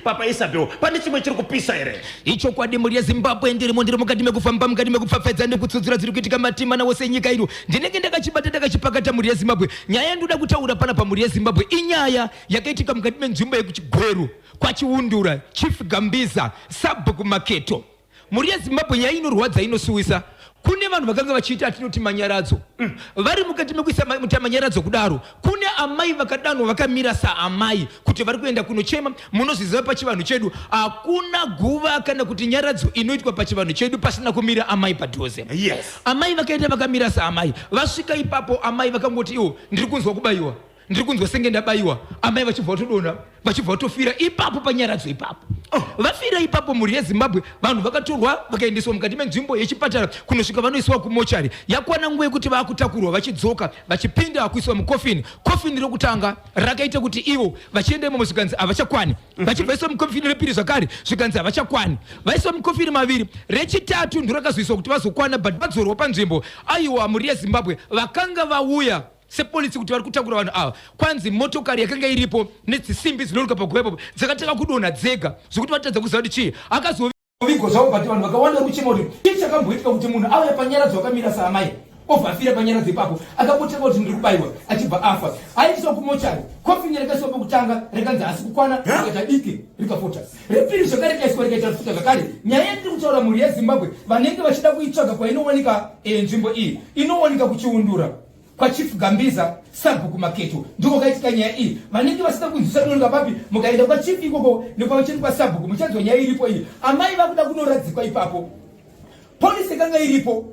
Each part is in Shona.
Papa Isabel, pane chimwe chiri kupisa here? Ichokwadi mhuri yeZimbabwe ndirimo ndiri mukati mekufamba mukati mekupfapfedza nekutsudzura dziri kuitika matimana wose enyika ino. Ndinenge ndakachibata ndakachipakata mhuri yeZimbabwe. Nyaya yandoda kutaura pana pamhuri yeZimbabwe inyaya yakaitika mukati menzvimbo yekuChigweru kwaChiundura, Chief Gambiza, Sabhuku Maketo. Mhuri yeZimbabwe nyaya inorwadza inosuwisa kune vanhu vakanga vachiita atinoti manyaradzo mm. vari mukati mekuisa muta manyaradzo kudaro kune amai vakadanwa vakamira saamai kuti vari kuenda kunochema munozviziva pachivanhu chedu hakuna guva kana kuti nyaradzo inoitwa pachivanhu chedu pasina kumira amai padhuze yes. amai vakaenda vakamira saamai vasvika ipapo amai vakangoti iwo ndiri kunzwa kubayiwa ndiri kunzwa senge ndabaiwa amai vachibva vatodonha vachibva vatofira ipapo panyaradzo ipapo oh. vafira ipapo mhuri yezimbabwe vanhu vakatorwa vakaendeswa mukati menzvimbo yechipatara kunosvika vanoiswa kumochari yakwana nguva yekuti vakutakurwa vachidzoka vachipinda vakuiswa mukofini kofini rekutanga rakaita kuti ivo vachienda imomo zvikanzi havachakwani mhm. vachibva iswa mukofini repiri zvakare zvikanzi havachakwani vaiswa mukofini maviri rechitatu ndorakazoiswa kuti vazokwana but vadzorwa panzvimbo aiwa mhuri yezimbabwe vakanga vauya sepolisi kuti vari kutakura vanhu ava kwanzi motokari yakanga iripo nedzisimbi dzinoruka paguva ipapo dzakatanga kudonha dzega zvekuti vatadza kuziva kuti chii akazovigwa zvavo but vanhu vakawanda vari kuchema kuti chii chakamboitika kuti munhu auya panyaradzo akamira saamai obva afira panyaradzo ipapo akambotanga kuti ndiri kubaiwa achibva afa aiswa kumochari kofinya rakaiswa pokutanga rekanzi asi kukwana rikaita diki rikafota repiri zvakare rikaiswa rikaita rifuta zvakare nyaya yandiri kutaura mhuri yezimbabwe vanenge vachida kuitsvaga kwainowanika eh, nzvimbo iyi inowanika kuchiundura kwachief gambiza sabhuku maketo ndiko kaitika nyaya iyi vanenge vasina kunzwisa dondwa papi mukaenda kwachief ikoko nekwavacheni kwasabhuku muchanzwa nyaya iripo iyi amai vakuda kunoradzikwa ipapo polisi ikanga iripo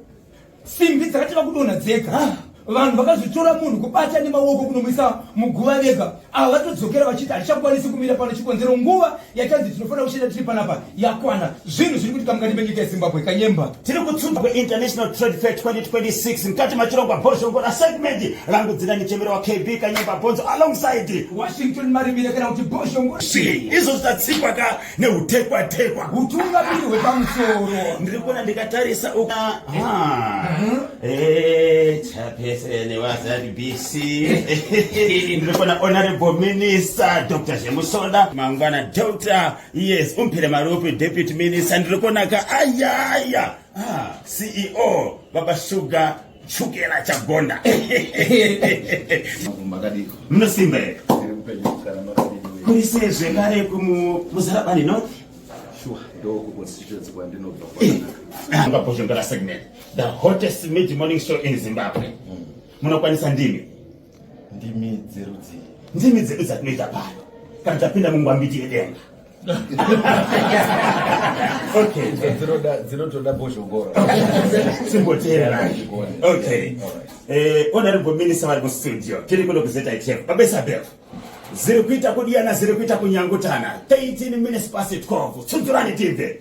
simbi dzakati vakudonha dzega ah, vanhu vakazvitora munhu kubata nemaoko kunomwisa muguva vega ava vatodzokera vachiti hatichakwanisi kumira pano chikonzero nguva yachanzi tinofanira kushanda tiri panapa yakwana zvinhu zviri kuti kamukati menyika yezimbabwe kanyemba tiri kutsumba kweinternational trade fair 2026 mukati machirongwa bhozhongo rasegment rangu dzina nichemero wakb kanyemba bhonzo alongside washington marimire kana kuti bhozhongo izvozvi tatsikwa ka neutekwa tekwa hutungamiri hwepamusoro ndiri kuona ndikatarisa uka mhm. eh, chapese nevaZBC ndiri kuona honorable minister dr zvemusonda mangwana doctor yes umpire marope deputy minister ndiri kuona ka ayaya ah, ceo baba sugar Chukela chagonda. Makumba kadiko. Munosimba here? Tiri kupenyu kugara makadiko. Kuri sezve kare kumuzarabani no? Sure, ndoko constituency kwandinobva kwanaka. Ah, Ngapozvongera segment. The hottest mid morning show in Zimbabwe. Hmm. Munokwanisa ndimi? Ndimi dzerudzii? Ndimi dzedu dzatinoita pano. Kana tapinda mungwambiti yedenga. dzinotoda bozhongoro onarimbo minisa vari mustudio tiri kuno kuzetaichef babesabel ziri kuita kudiyana ziri kuita kunyangutana 13 minutes pasi 12 tsunzurani tibve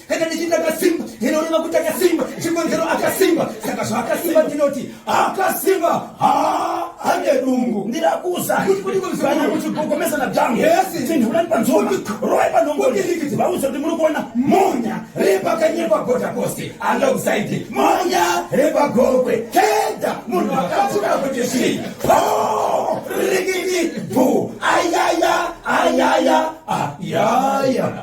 kana ndichiti akasimba ndinoreva kuti akasimba chikonzero akasimba saka zvaakasimba ndinoti akasimba ane dungu ndirakuza kana kuchigogomesa na dhangu tindulani panzoma roi panhongoniikiti vauza kuti muri kuona monya repakanyepa gotakosi alongside monya repagokwe keda munhu akatura kuti zvii rikiti bhu ayaya ayaya ayaya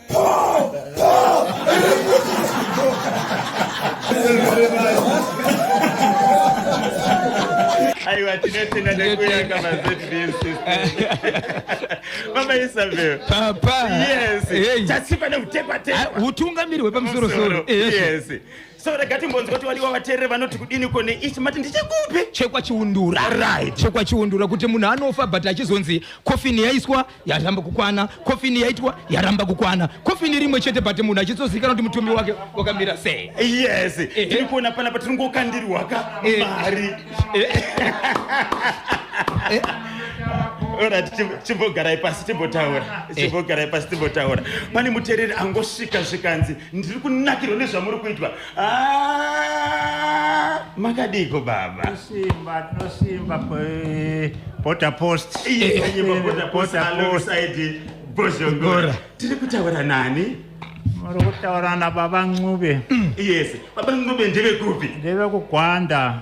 aiwa tinotenda nekuyaka mama isabel papa yes chasipa neutekwatekwa utungamiri hwepamusoro soro yes so rega timbonzwa kuti vadiwa vateereri vanoti kudini ko neichi mati ndichikupi chekwachiundura right chekwachiundura kuti munhu anofa but achizonzi kofini yaiswa yaramba kukwana kofini yaitwa yaramba kukwana kofini rimwe chete but munhu achitsozivikanwa kuti mutumbi wake wakamira sei yes eh, eh. tiri kuona pana pa tiringokandirwaka eh. mari orat chimbogarai pasi timbotaura eh. chimbogarai pasi timbotaura pane mutereri angosvika zvikanzi ndiri kunakirwa nezvamuri kuitwa Ah, makadiko baba tosimba tosimba pota post bozhongora tiri kutaura nani muri kutaura nababa ncube yes baba ncube ndevekupi ndevekugwanda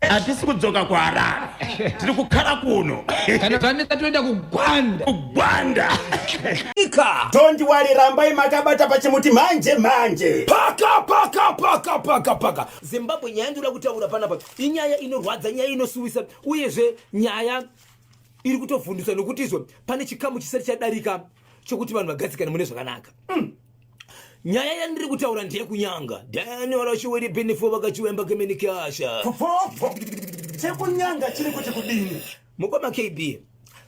hatisi kudzoka kuharare tiri kukhala kuno kana tanetsa toenda kugwanda kugwanda Ika. Don't worry, rambai makabata pachimuti manje manje. Paka paka paka paka paka. Zimbabwe nyaya ndinoda kutaura panapa inyaya inorwadza, nyaya inosuwisa uyezve nyaya iri kutovhunduswa nokutizve pane chikamu chisati chadarika chokuti vanhu vagadzikane mune zvakanaka. nyaya yandiri kutaura ndeyekunyanga daniorashiwiripinifo vakachiwemba keminikasha fofofo chekunyanga chiri kuti kudini mukoma kb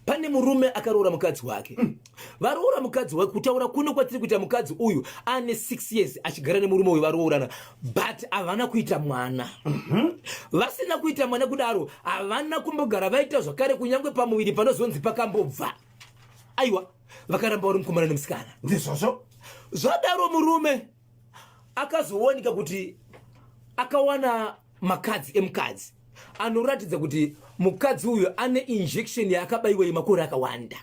pane murume akaroora mukadzi wake mm. varoora mukadzi wake kutaura kuno kwatiri kuita mukadzi uyu ane six years achigara nemurume uyu varoorana but havana kuita mwana mhm. vasina kuita mwana kudaro havana kumbogara vaita zvakare kunyange pamuviri panozonzi pakambobva aiwa vakaramba uri mukomana nemusikana ndizvozvo zvadaro murume akazowanika kuti akawana makadzi emukadzi anoratidza kuti mukadzi uyo ane injection yaakabaiwa yemakore akawanda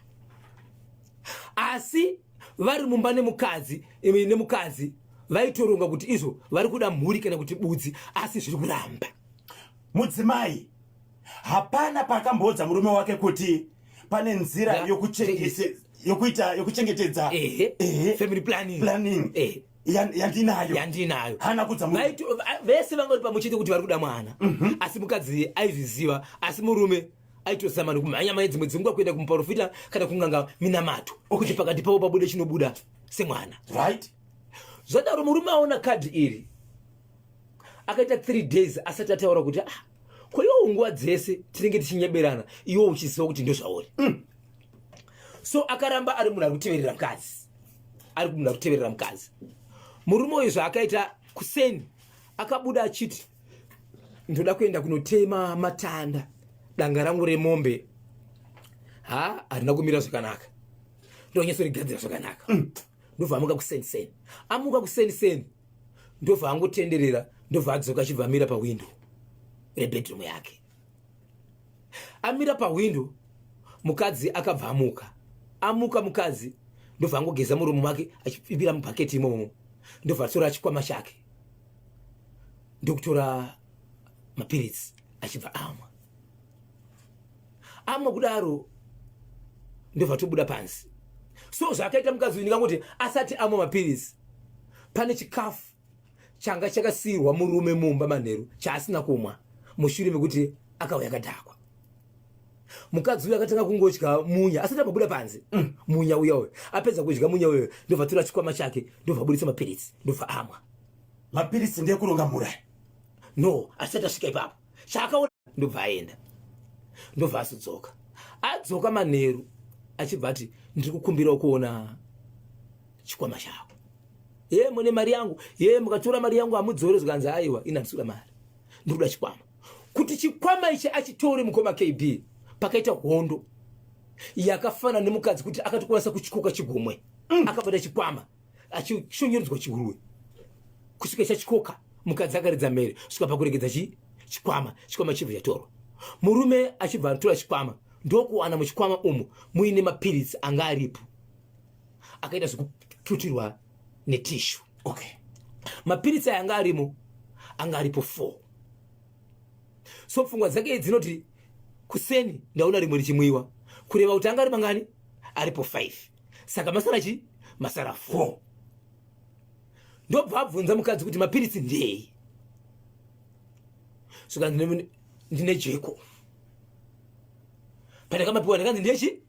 asi vari mumba nemukadzi nemukadzi vaitoronga kuti izvo vari kuda mhuri kana kuti budzi asi zviri kuramba mudzimai hapana paakamboudza murume wake kuti pane nzira yokuita yokuchengetedza family planning planning eh. yandinayo yandinayo hana kudza vese vanga uri pamuchete kuti vari kuda mwana mhm. asi mukadzi aizviziva asi murume aitozama nokumhanya mhanya dzimwe dzinguva kuenda kumuprofita kana kunganga minamato okuti pakati pavo pabude chinobuda semwana right zvadaro murume aona kadhi iri akaita three days asati ataura kuti ah kwa iwo nguva dzese tinenge tichinyeberana iwo uchiziva kuti ndozvauri mm. so akaramba ari munhu ari kuteverera mukadzi ari munhu ari kuteverera mukadzi murume uyu zvaakaita kuseni akabuda achiti ndoda kuenda kunotema matanda danga rangu remombe ha harina kumira zvakanaka ndonyatsorigadzira zvakanaka mm. ndobva amuka kuseni seni amuka kuseni seni ndobva angotenderera ndobva adzoka achibva amira pahwindo rebedroom yake amira pahwindo mukadzi akabva amuka amuka mukadzi ndobva angogeza muromo make achipipira mubhaketi imomo ndobva atora chikwama chake ndokutora mapiritsi achibva amwa amwe kudaro ndobva tobuda pansi so zvaakaita mukadzi uyu ndingakuti asati amwe mapiritsi pane chikafu changa chakasiirwa murume mumba manheru chaasina kumwa mushure mekuti akauya akadhakwa mukadzi uyo akatanga kungodya munya asati ambobuda panze mm. munya uya uyo apedza kudya munya uyo ndobva tora chikwama chake ndobva aburitsa mapiritsi ndobva amwa mapiritsi ndekuronga mura no asati asvika ipapo chaakaona ndobva aenda ndobva asudzoka adzoka manheru achibva ati ndiri kukumbirawo kuona chikwama chako ye mune mari yangu ye mukatora mari yangu hamudzore zvikanzi aiwa ina ndisura mari ndiri kuda chikwama kuti chikwama ichi achitore mukoma kb pakaita hondo yakafana nemukadzi kuti akatokwanisa kuchikoka chigomwe mm. akabata chikwama achishonyerudzwa chihuruwe kusvika chachikoka mukadzi akaridza mhere kusvika pakuregedza chikwama chikwama chibva chatorwa murume achibva atora chikwama ndokuwana muchikwama umu muine mapiritsi anga aripo akaita zvekututirwa netishu okay. mapiritsi aya anga arimo anga aripo four so pfungwa dzake dzinoti kuseni ndaona rimwe richimwiwa kureva kuti anga ari mangani aripo five saka masara chi masara 4 ndobva abvunza mukadzi kuti mapiritsi ndei saka ndine jeko pandakamapiwa ndakanzi ndechi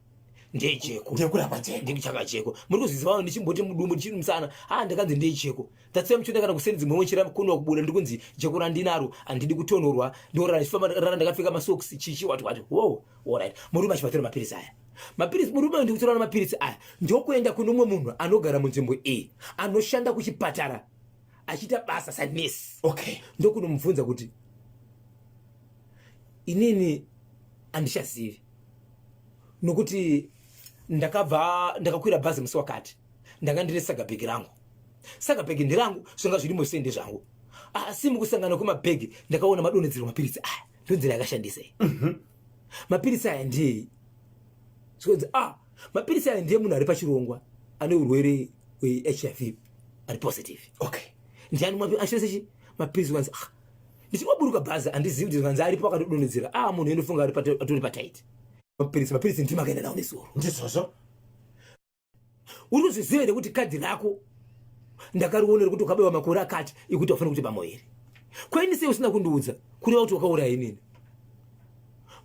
ndejeko ndekurapa jeko ndikuchaka jeko muri kuzvizivawo ndichimboti mudumbu ndichiri musana ha ah, ndakanzi ndejeko tatsiya muchonda kana kuseni dzimwe wochira kunwa kubuda ndikunzi jeko randinaro handidi kutonhorwa ndorara ndichifamba rara ndakapfeka masoksi chichi wati wati wo orit muri machivatira mapirisi aya mapiritsi murume uyu ndikutorana mapiritsi aya ndokuenda kune umwe munhu anogara munzvimbo iyi anoshanda kuchipatara achiita basa sanesi okay ndokunomubvunza kuti inini handichazivi nokuti ndakabva ndakakwira bhazi musi wakati ndanga ndine sagabhegi rangu sagabhegi ndirangu zvanga zviri mose ndezvangu asi mukusangana kwemabhegi ndakaona madonhedzerwa mapiritsi aya ndonzira yakashandisei mm -hmm. mapiritsi aya ndei zvikanzi a ah, mapiritsi aya ndiye munhu ari pachirongwa ane urwere hwehiv ari positive okay ndiani mwapi ashose chi mapiritsi kanzi a ah, ndichinoburuka bhazi handizivi kuti zvikanzi aripo akatodonhedzera a ah, munhu endofunga atori pataiti mapiritsi mapiritsi ndimakaenda nawo nezuro ndizvozvo uri kuzviziva here kuti kadhi rako ndakarionera kuti ukabewa makore akati ikuti wafanira kuti pamwe here kwaini sei usina kundiudza kureva kuti wakauraya inini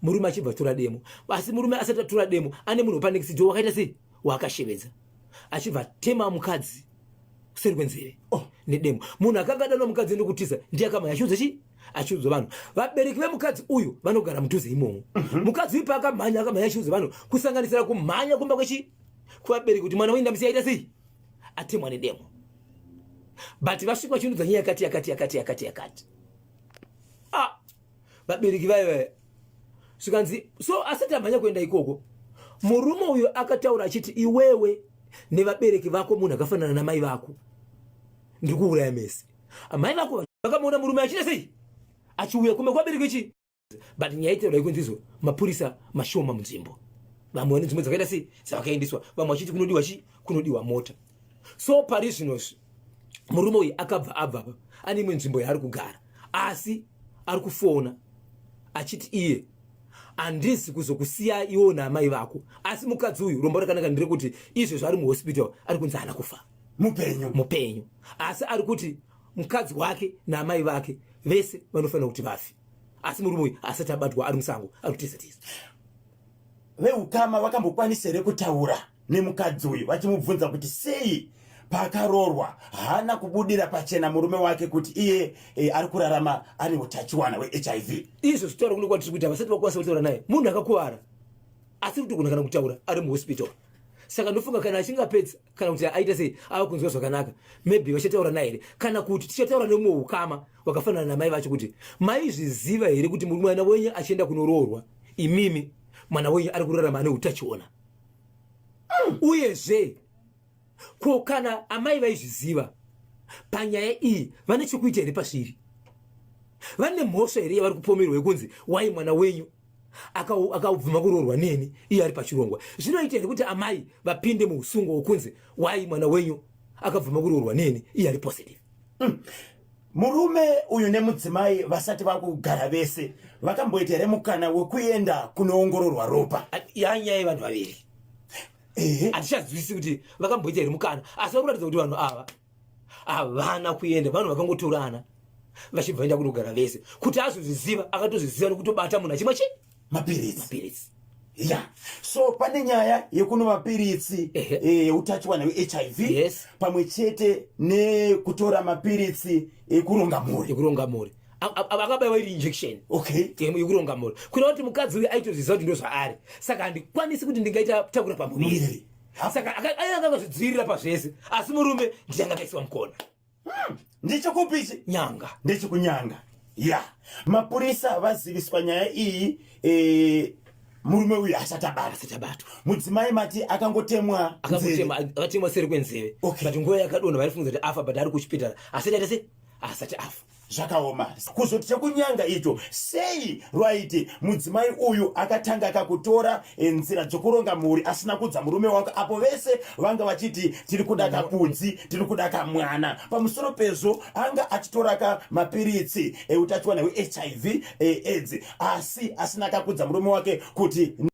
murume achibva tura demo asi murume asati atura demo ane munhu wepanekisijo wakaita sei waakashevedza achibva tema mukadzi kuseri kwenzeve oh, nedemo munhu akanga adanwa mukadzi ndokutiza ndiye akamaya chiudza chii achiudza vanhu vabereki vemukadzi uyu vanogara mudhuze imomo mhm. mukadzi uyu paakamhanya akamhanya achiudza vanhu kusanganisira kumhanya kumba kwechi kuvabereki kuti mwana wendamisi yaita sei atemwa nedemo but vasvika vachiunudza nyaya yakati yakati yakati yakati yakati ah vabereki vaye vaye zvikanzi so asati amhanya kuenda ikoko murume uyo akataura achiti iwewe nevabereki vako munhu akafanana namai vako ndiri kuuraya mese Amai vako vakamuona murume achita sei? Achiuya kumba kwabereki chi? But nyaya itaura ikunzi izvo mapurisa mashoma munzvimbo. Vamwe vane dzimwe dzakaita sei dzavakaendeswa, vamwe vachiti kunodiwa chi? Kunodiwa mota. So pari zvino murume uyu akabva abva apa ane imwe nzvimbo yaari kugara asi ari kufona achiti iye handisi kuzokusiya iwo naamai vako asi mukadzi uyu rombo rakanaka nderekuti izvezvo ari muhospital ari kunzi haana kufa mupenyu mupenyu asi ari kuti mukadzi wake naamai vake vese vanofanira kuti vafi asi murume uyu asati abatwa ari musango ari kutiza tiza veukama vakambokwanisa here kutaura nemukadzi uyu vachimubvunza kuti sei paakaroorwa haana kubudira pachena murume wake kuti iye e, ari kurarama ane utachiwana wehiv izvo zvitaura kuno kwatiri kuita vasati vakwanisa kutaura naye munhu akakuvara asiri kutogona kana kutaura ari muhospitari saka ndofunga kana achinge apedza kana kuti aita sei ava kunzwa zvakanaka maybe vachataura naye here kana kuti tichataura nemumwe ukama wakafanana namai vacho kuti maizviziva here kuti mwana wenyu achienda kunoroorwa imimi mwana wenyu ari kurarama ane utachiona mm. uyezve ko kana amai vaizviziva panyaya iyi vane chokuita here pasviri vane mhosva here yavari kupomerwa yekunzi wai mwana wenyu akabvuma kuroorwa neni iye ari pachirongwa zvinoita here kuti amai vapinde muusungo wokunzi wai mwana wenyu akabvuma kuroorwa neni iye ari positive mm. murume uyu nemudzimai vasati vakugara vese vakamboita here mukana wekuenda kunoongororwa ropa yanyaya yevanhu vaviri handichazivisi kuti vakamboita here mukana asi vakuratidza kuti vanhu ava havana kuenda vanhu vakangotorana vachibva vaenda kunogara vese kuti azozviziva akatozviziva nekutobata munhu achimwa chii mapiritsi mapiritsi ya so pane nyaya yekuno mapiritsi yeutachiwana eh, wehiv yes. pamwe chete nekutora mapiritsi ekuronga mhuri ekuronga mhuri akabaiwa iri injection okay yekuronga mhuri kuita kuti mukadzi uyu aitozviziva kuti ndozvaari saka handikwanisi kuti ndingaita takura pamuviri saka aya akangazvidzivirira pazvese asi murume ndiye angakaisiwa mukona hmm, ndichikupi ichi nyanga ndechikunyanga ya mapurisa vaziviswa nyaya iyi e, murume uyu asati abatwa mudzimai mati akangotemwa akatemwa seri kwenzeve okay. but nguva yakadonha vaifungiza kuti afa but ari kuchipitara asati atese asati afa zvakaoma kuzoti chekunyanga icho sei rwaiti mudzimai uyu akatanga akakutora eh, nzira dzokuronga mhuri asina kudza murume wako apo vese vanga vachiti tiri kuda kapudzi tiri kuda kamwana pamusoro pezvo anga achitoraka mapiritsi eutachiwana eh, hwehiv eh, aids asi asina akakudza murume wake kuti